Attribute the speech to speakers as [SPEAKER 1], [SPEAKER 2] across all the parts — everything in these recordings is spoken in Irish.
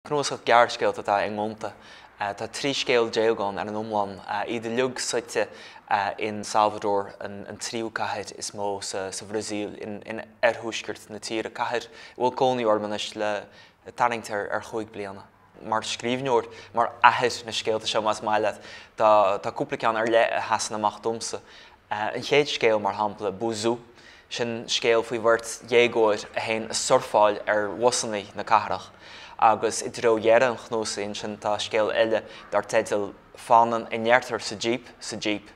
[SPEAKER 1] Cnuasach gearrscéalta atá i nGonta. Tá trí scéal déag ann ar an iomlán, iad uilig suite in Salvador, an tríú cathair is mó sa Bhrasaíl, in oirthuaisceart na tíre, cathair a bhfuil cónaí orm anois le tarraingt ar chúig bliana. Mar scríbhneoir, mar athair, na scéalta seo más maith leat, tá cúpla ceann ar leith a sheasann amach domsa. An chéad scéal, mar shampla, Buzú, sin scéal faoi bheirt dhéagóir a théann ag surfáil ar bhusanna na cathrach, agus i dtreo dheireadh an chnuasaigh ansin tá scéal eile dar teideal Fanann a ndeirtear sa jíp sa jíp,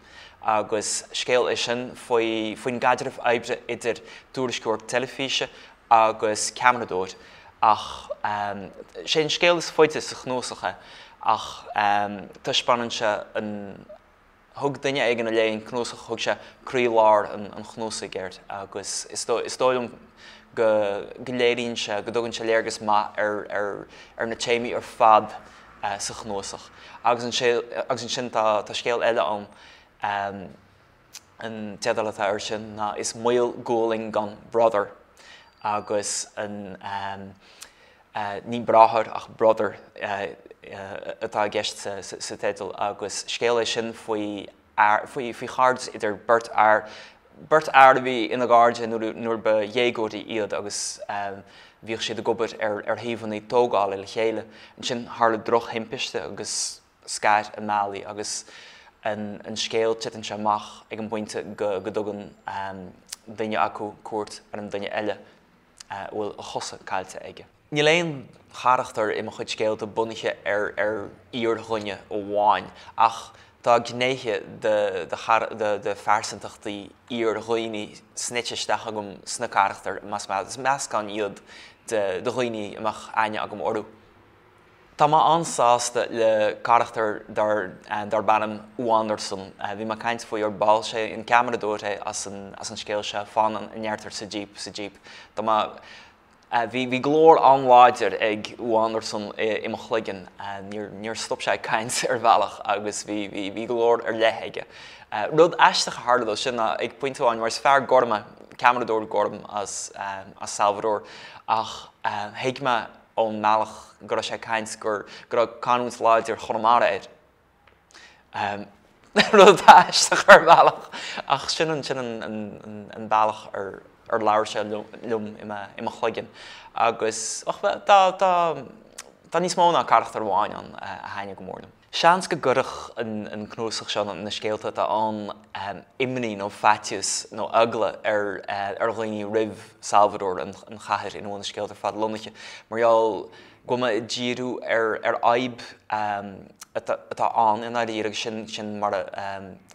[SPEAKER 1] agus scéal é sin faoi faoin gcaidreamh oibre idir tuairisceoir teilifíse agus ceamaradóir, ach sé an scéal is faide sa chnuasach é, ach taispeánann sé an. Thug duine éigin a léigh an cnuasach, thug sé croí lár an chnuasaigh air agus is dóigh liom go léiríonn sé, go dtugann sé léargas maith ar na téamaí ar fad sa chnuasach. Agus ansin tá scéal eile ann, an teideal atá air sin ná Is Maol Gualainn gan Brother agus an. Ní 'bráthair' ach 'brother' atá i gceist sa teideal agus scéal é sin faoi, faoi chairdeas idir beirt fhear, beirt fhear a bhí ina gcairde nuair ba dhéagóirí iad agus bhíodh siad ag obair ar shuíomhanna tógála le chéile. Ansin tharla drochthimpiste agus scar a mbealaí agus an scéal titeann sé amach ag an bpointe go dtugann duine acu cuairt ar an duine eile. a bhfuil a chosa caillte aige. Níl aon charachtar i mo chuid scéalta bunaithe ar fhíordhuine amháin, ach tá gnéithe de phearsantachtaí fhíordhaoine snoite isteach agam sna carachtair, mar is meascán iad de dhaoine a mbeadh aithne agam orthu. Tá mé an-sásta le carachtar darb ainm Wanderson. Bhí mé ag caint faoi ar ball, sé an ceamaradóir é as an scéal seo, Fanann a ndeirtear sa jíp, sa jíp. Tá mé, bhí glór an-láidir ag Wanderson i mo chloigeann, níor stop sé ag caint ar bhealach agus bhí glór ar leith aige. Rud aisteach a tharla dó sin ná ag pointe amháin, mar is fear gorm é, ceamaradóir gorm as Salvador, ach thuig mé, ón mbealach go raibh sé ag caint gur go raibh canúint láidir Chonamara air. Rud atá aisteach ar bhealach ach sin an sin an an an an bealach ar ar labhair sé liom liom i mo i mo chloigeann agus och bhuel tá tá tá níos mó ná carachtar amháin ann a thaitnigh go mór liom. Seans go gcuirfeadh an cnuasach seo na scéalta atá ann imní nó faitíos nó eagla ar dhaoine roimh Salvador, an chathair ina bhfuil na scéalta ar fad lonnaithe, mar gheall go bhfuil mé ag díriú ar fhadhb atá ann i ndáiríre agus sin mar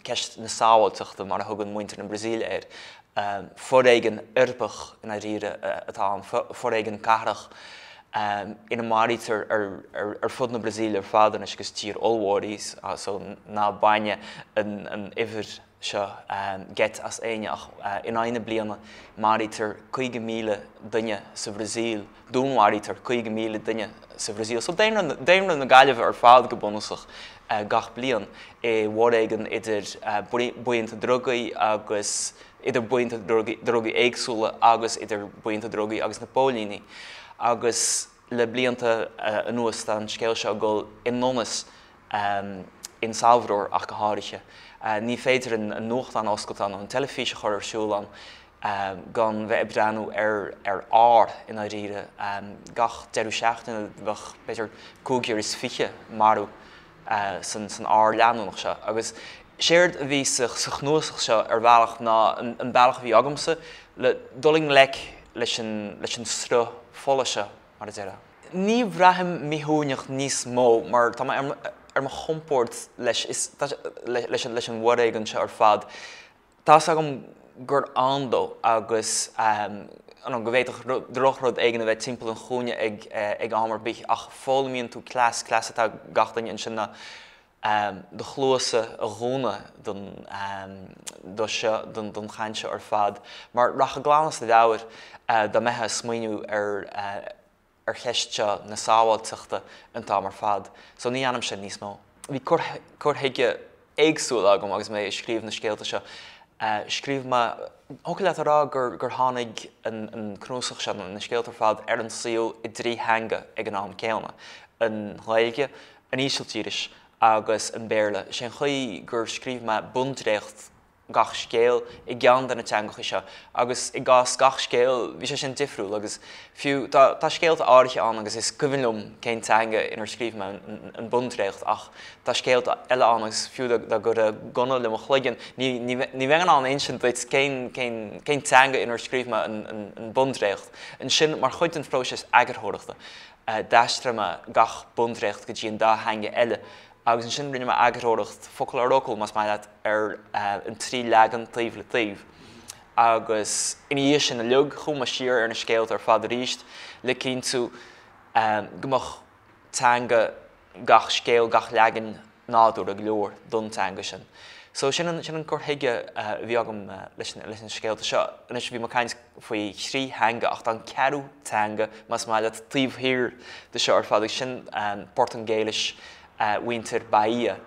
[SPEAKER 1] ceist na sábháilteachta mar a thugann muintir na Brasaíle air. Foréigean uirbeach i ndáiríre atá ann, foréigean cathrach ina maraítear ar fud na Brasaíle ar fad anois agus tír ollmhór í seo, so ná baineadh an uimhir seo geit as éinne ach in aghaidh na bliana maraítear 50,000 duine sa Bhrasaíl. dúnmharaítear 50,000 duine sa Bhrasaíl, so daonra na Gaillimhe ar fad go bunúsach, gach bliain i bhforéigean idir buíonta drugaí agus idir buíonta drugaí éagsúla agus idir buíonta drugaí agus na póilíní. Agus le blianta anuas tá an scéal seo ag dul i ndonas, in Salvador ach go háirithe. Ní féidir an nuachtán a oscailt ann, an teilifís a chur ar siúl ann, gan bheith ag breathnú ar ar ár i ndáiríre. Gach deireadh seachtaine bheadh b'fhéidir cúigear is fiche marú san san ár leanúnach seo. Agus séard a bhí sa sa chnuasach seo ar bhealach ná an an bealach a bhí agamsa le dul i ngleic leis an leis an sruth fola seo, mar a déarfá. Ní bhraithim míthsuaimhneach níos mó mar tá mé ar mo ar mo chompord leis leis an bhforéigean seo ar fad. Tá's agam gur ann dó agus go bhféadfadh drochrud éigin a bheith timpeall an chúinne ag am ar bith, ach foghlaimíonn tú cleas, cleas atá ag gach duine ansin ná do chluasa a dhúnadh don chaint seo ar fad, mar rachfá glan as do mheabhair dá mbeithfeá ag smaoiniú ar ar cheist seo na sábháilteachta an t-am ar fad, so ní dhéanaim sin níos mó. Bhí cur chuige éagsúil agam agus mé ag scríobh na scéalta seo. Scríobh mé, thiocfadh leat a rá gur tháinig an cnuasach seo, na scéalta ar fad, ar an saol i dtrí theanga ag an am céanna, an Ghaeilge, an Ísiltíris agus an Béarla. Is é an chaoi gur scríobh mé bundréacht gach scéal i gceann de na teangacha seo agus i gcás gach scéal bhí sé sin difriúil agus fiú tá scéalta áirithe ann agus is cuimhin liom cén teanga inar scríobh mé an bundréacht ach tá scéalta eile ann agus fiú dá gcuirfeá gunna le mo chloigeann ní bheinn in ann a insint duit cén teanga inar scríobh mé an bundréacht. Ansin mar chuid den phróiseas eagarthóireachta d'aistrigh mé gach bundréacht go dtí an dá theanga eile agus ansin rinne mé eagarthóireacht, focal ar fhocal, más maith leat, ar an trí leagan taobh le taobh, agus ina dhiaidh sin uilig, chuaigh mé siar ar na scéalta ar fad arís, le cinntiú go mbeadh teanga gach scéil, gach leagain, nádúrtha go leor don teanga sin. So, sin an cur chuige a bhí agam leis na scéalta seo. Anois, bhí mé ag caint. faoi thrí theanga, ach tá an ceathrú teanga, más maith leat, taobh thiar de seo ar fad, agus sin Portaingéilis mhuintir Bahia,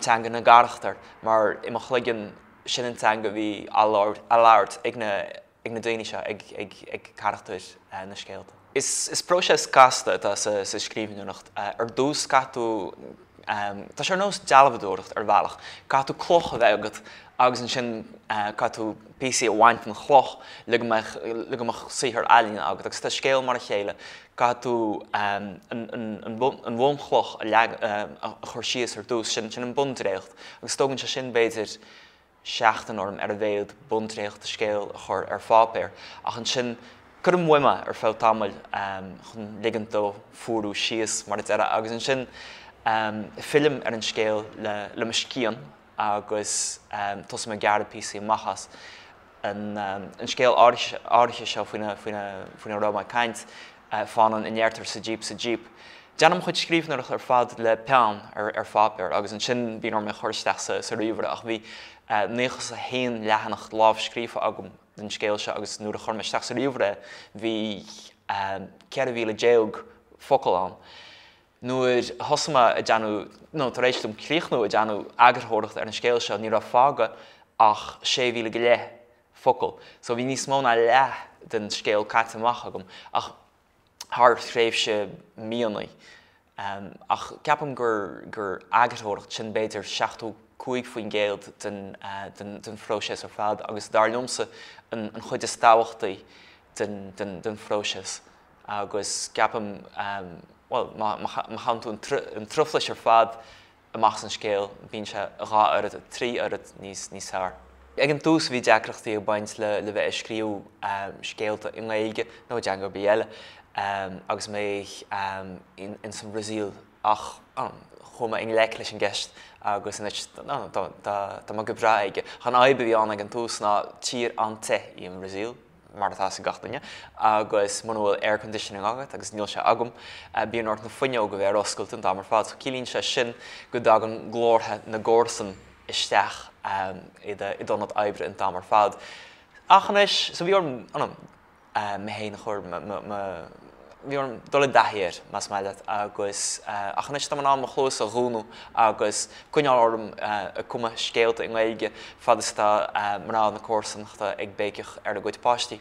[SPEAKER 1] teanga na gcarachtar, mar i mo chloigeann, sin an teanga a bhí á labhairt ag na daoine seo, ag carachtair na scéalta. Is próiseas casta atá sa scríbhneoireacht. Ar dtús, caithfidh tú, tá sé ar nós dealbhadóireacht ar bhealach, caithfidh tú cloch a bheith agat agus ansin caithfidh tú píosaí a bhaint den chloch le go mbeidh, le go mbeadh saothar ealaíne agat. Agus tá scéal mar a chéile, caithfidh tú an bhunchloch a leagan, a chur síos ar dtús, sin an bundréacht agus tógann sé sin b'fhéidir, seachtain orm ar a mhéad bundréacht de scéal a chur ar pháipéar, ach ansin cuirim uaim é ar feadh tamaill chun ligint dó fuarú síos, mar a déarfá, agus ansin fillim ar an scéal le mo scian agus tosaím ag gearradh píosaí amach as. An scéal áirithe seo faoina raibh mé ag caint, fanann a ndeirtear sa jíp sa jíp. Déanaim mo chuid scríbhneoireachta ar fad le peann ar pháipéar agus ansin bíonn orm é a chur isteach sa ríomhaire ach bhí naochas a haon leathanach lámhscríofa agam don scéal seo agus nuair a chuir mé isteach sa ríomhaire é bhí ceithre mhíle déag focal ann. Nuair a thosaigh mé a déanamh, nó tar éis dom críochnú a déanamh eagarthóireachta ar an scéal seo ní raibh fágtha ach sé mhíle go leith focal, so bhí níos mó ná leath den scéal caite amach agam ach thar thréimhse míonnaí. Ach ceapaim gur gur eagarthóireacht, sin b'fhéidir 75% den den phróiseas ar fad agus dar liomsa an an chuid is tábhachtaí den den den phróiseas agus ceapaim bhuel má má má chaitheann tú an truflais ar fad Amach san scéal, bíonn sé dhá oiread, trí oiread níos níos fearr. Ag an tús bhí deacrachtaí ag baint le le bheith ag scríobh scéalta i nGaeilge nó i dteanga ar bith eile agus mé ins an Bhrasaíl ach chuaigh mé i ngleic leis an gceist agus anois tá mé go breá aige. An fhadhb a bhí ann ag an tús ná tír an-te í an Bhrasaíl. mar atá a fhios ag gach duine, agus muna bhfuil air conditioning agat, agus níl sé agam, bíonn ort na fuinneoga a bheith ar oscailt an t-am ar fad. So ciallaíonn sé sin go dtagann glórtha na gcomharsan isteach i d'ionad oibre an t-am ar fad. Ach anois, so bhí orm, you know, mé fhéin a chur, mo, bhí orm dul i dtaithí air, más maith leat, agus ach anois tá mé in ann mo chluas a dhúnadh agus coinneáil orm ag cumadh scéalta i nGaeilge fad is atá mná na comharsanachta ag béiceach ar a gcuid páistí.